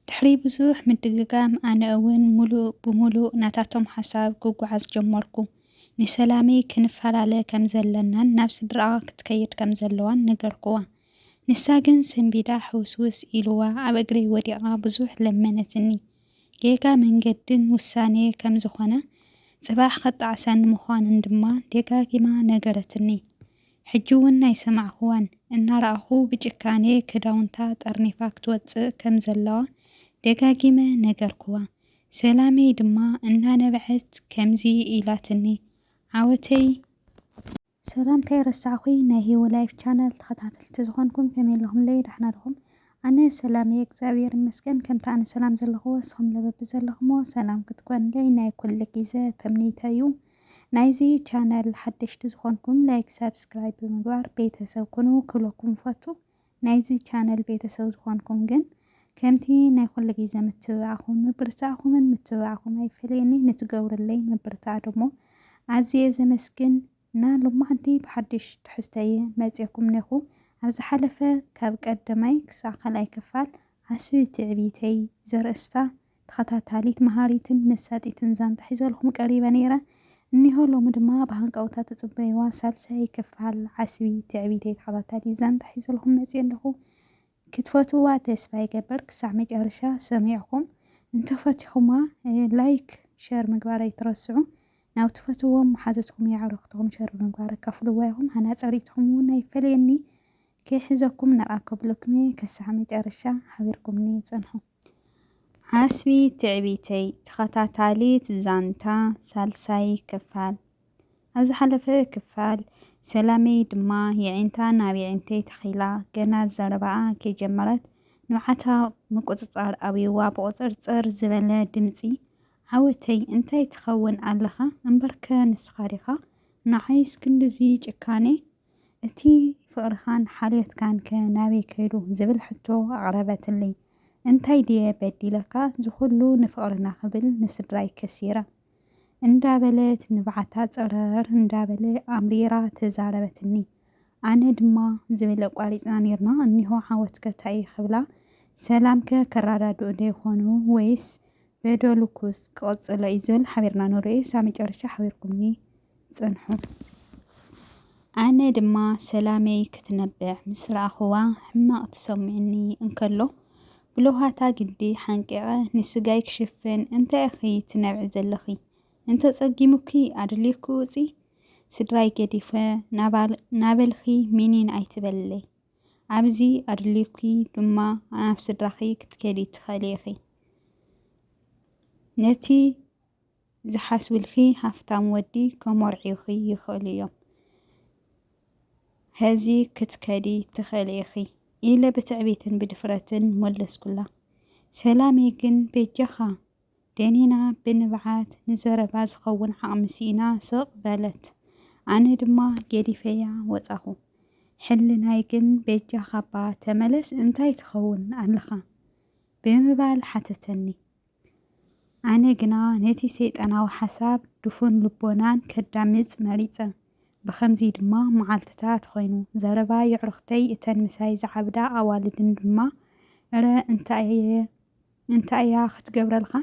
ድሕሪ ብዙሕ ምድግጋም ኣነ እውን ሙሉእ ብሙሉእ ናታቶም ሓሳብ ክጓዓዝ ጀመርኩ። ንሰላመይ ክንፋላለ ከም ዘለናን ናብ ስድራኣ ክትከይድ ከም ዘለዋን ነገርኩዋ። ንሳ ግን ሰንቢዳ ሕውስውስ ኢሉዋ ኣብ እግረይ ወዲቓ ብዙሕ ለመነትኒ። ጌጋ መንገድን ውሳኔ ከም ዝኾነ ጽባሕ ከጣዕሰኒ ምዃኑን ድማ ደጋጊማ ነገረትኒ። ሕጂ ውን ናይ ሰማዕክዋን እናረኣኹ ብጭካኔ ክዳውንታ ጠርኒፋ ክትወጽእ ከም ዘለዋ ደጋጊመ ነገርክዋ ሰላመይ ድማ እናነበዐት ከምዚ ኢላትኒ ዓወተይ ሰላም ከይረሳዕኩይ ናይ ሂዊ ላይፍ ቻነል ተኸታተልቲ ዝኾንኩም ከመይ ኣለኹምለይ ዳሕና ድኹም ኣነ ሰላም እየ እግዚኣብሔር ይመስገን ከምቲ ኣነ ሰላም ዘለኽዎ እስኹምለ በብዘለኽሞ ሰላም ክትኮንለይ ናይ ኩሉ ጊዘ ተምኒተይ እዩ ናይዚ ቻነል ሓደሽቲ ዝኾንኩም ላይክ ሳብስክራይብ ብምግባር ቤተሰብ ኩኑ ክብለኩም እፈቱ። ናይዚ ቻነል ቤተሰብ ዝኾንኩም ግን ከምቲ ናይ ኩሉ ግዜ ምትብባዕኹም ምብርታዕኹምን ምትብባዕኩም ኣይፈለየኒ ንትገብርለይ ምብርታዕ ደሞ ኣዝየ ዘመስግን እና ሎማዕንቲ ብሓድሽ ትሕዝቶ እየ መጽየኩም ኔኹ ኣብ ዝሓለፈ ካብ ቀደማይ ክሳዕ ካልኣይ ክፋል ዓስቢ ትዕቢተይ ዘርእስታ ተኸታታሊት መሃሪትን መሳጢትን ዛንታ ሒዘልኩም ቀሪበ ነይረ እኒሆ ሎሚ ድማ ብሃንቀውታ ትጽበይዋ ሳልሳይ ክፋል ዓስቢ ትዕቢተይ ተኸታታሊት ዛንታ ሒዘልኩም መጽየ ኣለኹ ክትፈትውዋ ተስፋ ይገብር ክሳዕ መጨረሻ ሰሚዕኹም እንተፈቲኹማ ላይክ ሸር ምግባር ኣይትረስዑ ናብ ትፈትዎም መሓዙትኩም የዕሩኽትኹም ሸር ብምግባር ኣካፍልዋ ኢኹም ሃናጺ ርኢትኹም እውን ኣይፈለየኒ ከይሕዘኩም ነቓ ከብለኩምየ ክሳዕ መጨረሻ ሓቢርኩምኒ ጽንሑ ዓስቢ ትዕቢተይ ተኸታታሊት ዛንታ ሳልሳይ ክፋል ኣብ ዝሓለፈ ክፋል ሰላመይ ድማ የዒንታ ናብ የዒንተይ ተኺላ ገና ዘረባኣ ከይጀመረት ንብዓታ ምቁጽጻር ኣብዩዋ ብቑጽርጽር ዝበለ ድምጺ ዓወተይ እንታይ ትኸውን ኣለኻ እምበርከ ንስኻ ዲኻ ንዓይስ ክንድዚ ጭካኔ እቲ ፍቕርኻን ሓልዮትካንከ ናበይ ከይዱ? ዝብል ሕቶ ኣቕረበትለይ። እንታይ ድየ በዲለካ እዚ ኹሉ ንፍቕርና ክብል ንስድራይ ከሲረ? እንዳበለት ንብዓታ ጸረር እንዳበለ ኣምሪራ ተዛረበትኒ። ኣነ ድማ ዝብል ኣቋሪጽና ኔርና እኒሆ ዓወትከ ታይ'ዩ ክብላ ሰላምከ ከረዳድኡዶ ይኾኑ ወይስ በደሉኩስ ክቕጽሎ'ዩ ዝብል ሓቢርና ንርእዮ ሳብ መጨረሻ ሓቢርኩምኒ። ጸንሑ። ኣነ ድማ ሰላመይ ክትነብዕ ምስ ረኣኹዋ ሕማቕ ተሰሚዑኒ እንከሎ፣ ብለውሃታ ግዲ ሓንቂቐ ንስጋይ ክሽፍን እንታይ ኢኺ ትነብዒ ዘለኺ? እንተጸጊሙኪ ኣደልዩኪ ውጺ፣ ስድራይ ገዲፈ ናበልኺ ሚኒን ኣይትበልለይ። ኣብዚ ኣደልዩኪ ድማ ናብ ስድራኺ ክትከዲ ትኽእሊ ኢኺ። ነቲ ዝሓስብልኪ ሃፍታም ወዲ ከሞርዕዩኺ ይኽእሉ እዮም። ሐዚ ክትከዲ ትኽእሊ ኢኺ። ኢለ ብትዕቢትን ብድፍረትን መለስኩላ። ሰላመይ ግን በጃኻ! ደኒና ብንብዓት ንዘረባ ዝኸውን ዓቕሚ ስኢና ስቕ በለት። ኣነ ድማ ገዲፈያ ወፃኹ። ሕልናይ ግን በጃኻ'ባ ተመለስ እንታይ ትኸውን ኣለኻ? ብምባል ሓተተኒ። ኣነ ግና ነቲ ሰይጣናዊ ሓሳብ ድፉን ልቦናን ከዳምጽ መሪጸ። ብኸምዚ ድማ መዓልትታት ኾይኑ። ዘረባ የዕሩኽተይ እተን ምሳይ ዝዓብዳ ኣዋልድን ድማ እረ እንታይ'የ እንታይ'ያ ክትገብረልካ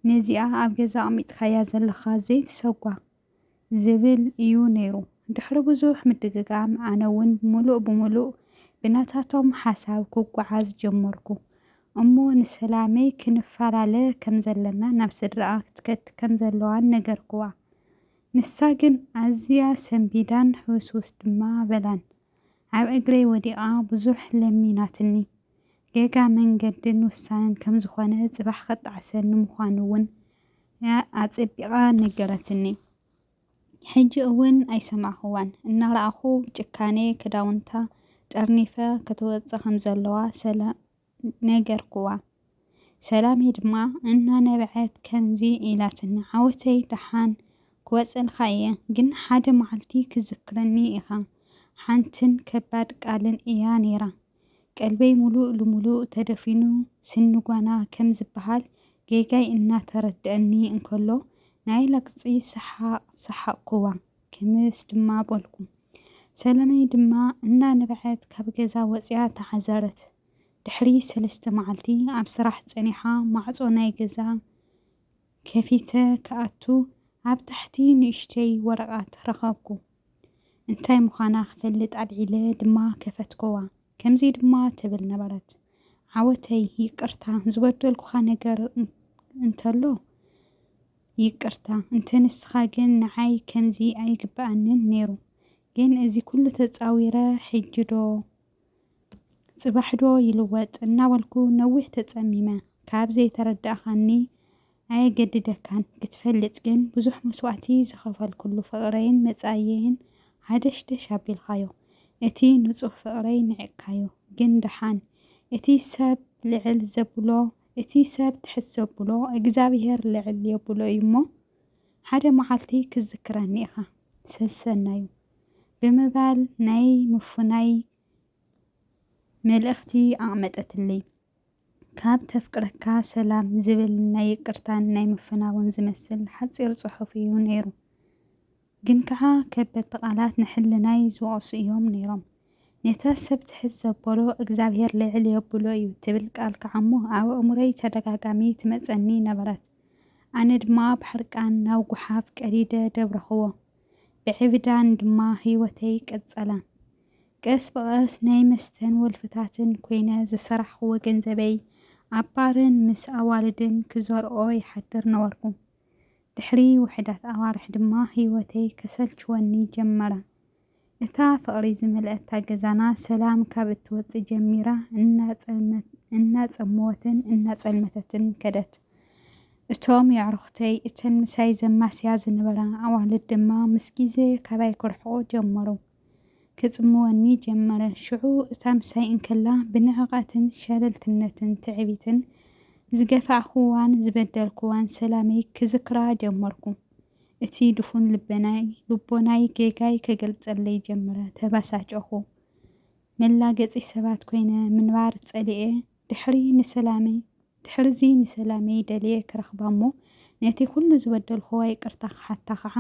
ነዚኣ ኣብ ገዛ ኣቕሚጥካያ ዘለኻ ዘይትሰጓ! ዝብል እዩ ነይሩ። ድሕሪ ብዙሕ ምድግጋም ኣነ እውን ምሉእ ብምሉእ ብናታቶም ሓሳብ ክጓዓዝ ጀመርኩ። እሞ ንሰላመይ ክንፋላለ ከም ዘለና ናብ ስድራኣ ክትከድ ከም ዘለዋን ነገርክዋ። ንሳ ግን ኣዝያ ሰንቢዳን ሕውስውስ ድማ በላን። ኣብ እግረይ ወዲቓ ብዙሕ ለሚናትኒ። ጌጋ መንገድን ውሳነን ከም ዝኾነ፣ ጽባሕ ከጣዕሰኒ ምዃኑ'ውን ኣጸቢቓ ነገረትኒ። ሕጂ'ውን ኣይሰማዕኩዋን። እናረኣኹ ብጭካኔ ክዳውንታ ጠርኒፈ ክትወጽእ ከም ዘለዋ ሰላም ነገርኩዋ። ሰላመይ ድማ እናነበዐት ከምዚ ኢላትኒ፣ ዓወተይ ደሓን ክወጽእልካ እየ፣ ግን ሓደ መዓልቲ ክትዝክረኒ ኢኻ። ሓንትን ከባድ ቃልን እያ ነይራ። ቀልበይ ምሉእ ልምሉእ ተደፊኑ ስኒ ጓና ከም ዝበሃል ጌጋይ እናተረድኣኒ እንከሎ ናይ ላግጺ ሰሓቕ ሰሓቕኩዋ። ክምስ ድማ በልኩ። ሰለመይ ድማ እናነብዐት ካብ ገዛ ወጺኣ ተዓዘረት። ድሕሪ ሰለስተ መዓልቲ ኣብ ስራሕ ጸኒሓ ማዕጾ ናይ ገዛ ከፊተ ክኣቱ ኣብ ታሕቲ ንእሽተይ ወረቓት ረኸብኩ። እንታይ ምዃና ክፈልጥ ኣልዒለ ድማ ከፈትኩዋ። ከምዚ ድማ ትብል ነበረት፣ ዓወተይ ይቅርታ ዝበደልኩኻ ነገር እንተሎ ይቅርታ እንተ ንስካ ግን ንዓይ ከምዚ ኣይግበኣንን ነይሩ ግን እዚ ኩሉ ተጻዊረ ሕጂ ዶ ጽባሕ ዶ ይልወጥ እናበልኩ ነዊሕ ተጸሚመ ካብ ዘይተረዳእካኒ ኣየገድደካን ክትፈልጥ ግን ብዙሕ መስዋእቲ ዝከፈልኩሉ ፍቅረይን መጻኢየይን ሃደሽደሽ ኣቢልካዮ እቲ ንጹህ ፍቅረይ ንዒቅካዮ ግን ደሓን እቲ ሰብ ልዕል ዘብሎ እቲ ሰብ ትሕት ዘብሎ እግዚኣብሄር ልዕል የብሎ እዩ እሞ ሓደ መዓልቲ ክትዝክረኒ ኢኻ ሰሰናዩ ብምባል ናይ ምፍናይ መልእኽቲ ኣቕመጠትለይ። ካብ ተፍቅረካ ሰላም ዝብል ናይ ይቅርታን ናይ ምፍናውን ዝመስል ሓጺር ጽሑፍ እዩ ነይሩ። ግን ከኣ ከበድቲ ቃላት ንሕልናይ ዝወቕሱ እዮም ነይሮም። ነታ ሰብ ትሕት ዘበሎ እግዚኣብሔር ልዕል የብሎ እዩ ትብል ቃል ከኣ'ሞ ኣብ ኣእምሮይ ተደጋጋሚ ትመጸኒ ነበረት። ኣነ ድማ ብሕርቃን ናብ ጉሓፍ ቀዲደ ደብረኽዎ። ብዕብዳን ድማ ሕይወተይ ቀጸለ። ቀስ ብቐስ ናይ መስተን ወልፍታትን ኮይነ ዝሰራሕኽዎ ገንዘበይ ኣብ ባርን ምስ ኣዋልድን ክዘርኦ ይሓድር ነበርኩ። ድሕሪ ውሑዳት ኣዋርሕ ድማ ህይወተይ ከሰልችወኒ ጀመረ። እታ ፍቕሪ ዝመልኣታ ገዛና ሰላም ካብ እትወጽእ ጀሚራ እናጸመወትን እናጸልመተትን ከደት። እቶም የዕሩኽተይ፣ እተን ምሳይ ዘማስያ ዝነበራ ኣዋልድ ድማ ምስ ግዜ ካባይ ክርሕቑ ጀመሩ። ክጽምወኒ ጀመረ። ሽዑ እታ ምሳይ እንከላ ብንዕቐትን ሸለልትነትን ትዕቢትን ዝገፋዕኩዋን ዝበደልኩዋን ሰላመይ ክዝክራ ጀመርኩ። እቲ ድፉን ልበናይ ልቦናይ ጌጋይ ክገልጸለይ ጀመረ። ተበሳጨኹ። መላገጺ ሰባት ኮይነ ምንባር ጸሊኤ። ድሕሪ ንሰላመይ ድሕርዚ ንሰላመይ ደልየ ክረኽባ እሞ ነቲ ኩሉ ዝበደልኩዋ ይቅርታ ክሓታ ከዓ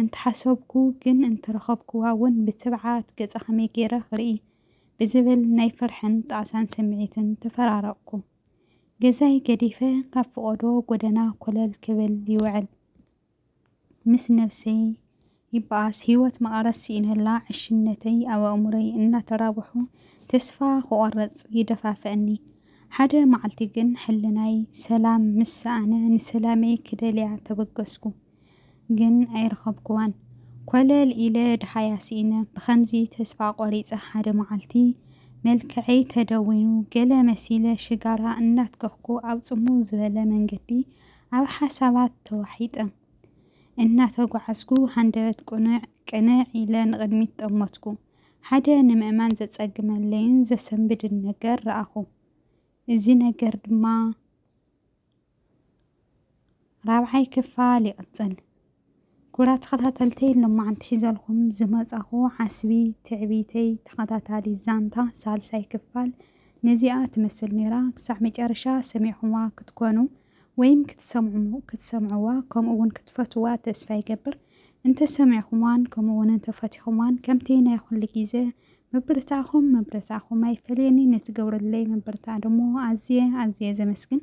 እንተሓሰብኩ ግን እንተረኸብኩዋ እውን ብትብዓት ገፃ ከመይ ገይረ ክርኢ ብዝብል ናይ ፍርሕን ጣዕሳን ስምዒትን ተፈራረቅኩ ገዛይ ገዲፈ ካብ ፍቆዶ ጎደና ኮለል ክብል ይውዕል ምስ ነብሰይ ይበኣስ ሂወት መቐረት ስኢነላ ዕሽነተይ ኣብ ኣእምሮይ እናተራብሑ ተስፋ ክቖርጽ ይደፋፍኣኒ ሓደ መዓልቲ ግን ሕልናይ ሰላም ምስ ሰኣነ ንሰላመይ ክደልያ ተበገስኩ ግን ኣይረኸብኩዋን ኮለል ኢለ ደሃያ ስኢነ ብኸምዚ ተስፋ ቆሪጸ ሓደ መዓልቲ መልከዐይ ተደዊኑ ገለ መሲለ ሽጋራ እናትከኽኩ ኣብ ጽምው ዝበለ መንገዲ ኣብ ሓሳባት ተዋሒጠ እናተጓዓዝኩ ሃንደበት ቅኑዕ ቅንዕ ኢለ ንቕድሚት ጠመትኩ። ሓደ ንምእማን ዘጸግመለይን ዘሰንብድን ነገር ረኣኹ። እዚ ነገር ድማ ራብዓይ ክፋል ይቕጽል። ክቡራት ተኸታተልተይ ሎማዓንቲ ሒዘልኹም ዝመፃኹ ዓስቢ ትዕቢተይ ተኸታታሊት ዛንታ ሳልሳይ ክፋል ነዚኣ ትመስል ነይራ ክሳዕ መጨረሻ ሰሚዕኹምዋ ክትኮኑ ወይም ክትሰምዑ ክትሰምዕዋ ከምኡ እውን ክትፈትውዋ ተስፋ ይገብር እንተሰሚዕኹምዋን ከምኡ እውን እንተፈቲኹምዋን ከምቲ ናይ ኩሉ ግዜ ምብርታዕኹም ምብርታዕኹም ኣይፈለየኒ ነቲ ገብረለይ ምብርታዕ ደሞ ኣዝየ ኣዝየ ዘመስግን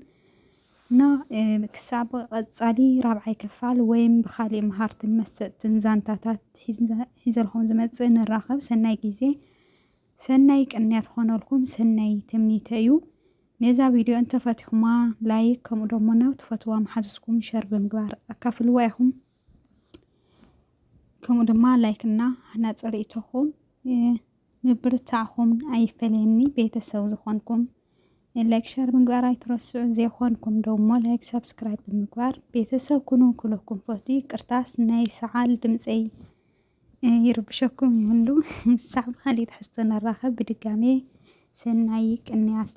እና ክሳብ ቐፃሊ ራብዓይ ክፋል ወይም ብኻሊእ መሃርትን መሰጥትን ዛንታታት ሒዘልኹም ዝመፅእ ንራኸብ ሰናይ ጊዜ ሰናይ ቅንያት ኾነልኩም ሰናይ ትምኒተይ እዩ ነዛ ቪድዮ እንተፈቲኹማ ላይክ ከምኡ ደሞ ናብ ትፈትዋ መሓዝትኩም ሸር ብምግባር ኣካፍልዋ ኢኹም ከምኡ ድማ ላይክ እና ሃናፂ ርእይቶኹም ምብርታዕኹም ኣይፈለየኒ ቤተሰብ ዝኾንኩም ላይክ ሸር ምግባር ኣይትረስዑ ዘይኾንኩም ደሞ ላይክ ሰብስክራይብ ብምግባር ቤተሰብ ኩኑ ኩለኩም ፈቱ ይቅርታስ ናይ ሰዓል ድምፀይ ይርብሸኩም ይህሉ ሳዕ ብካሊእ ትሕዝቶ ንራኸብ ብድጋሜ ሰናይ ቅንያት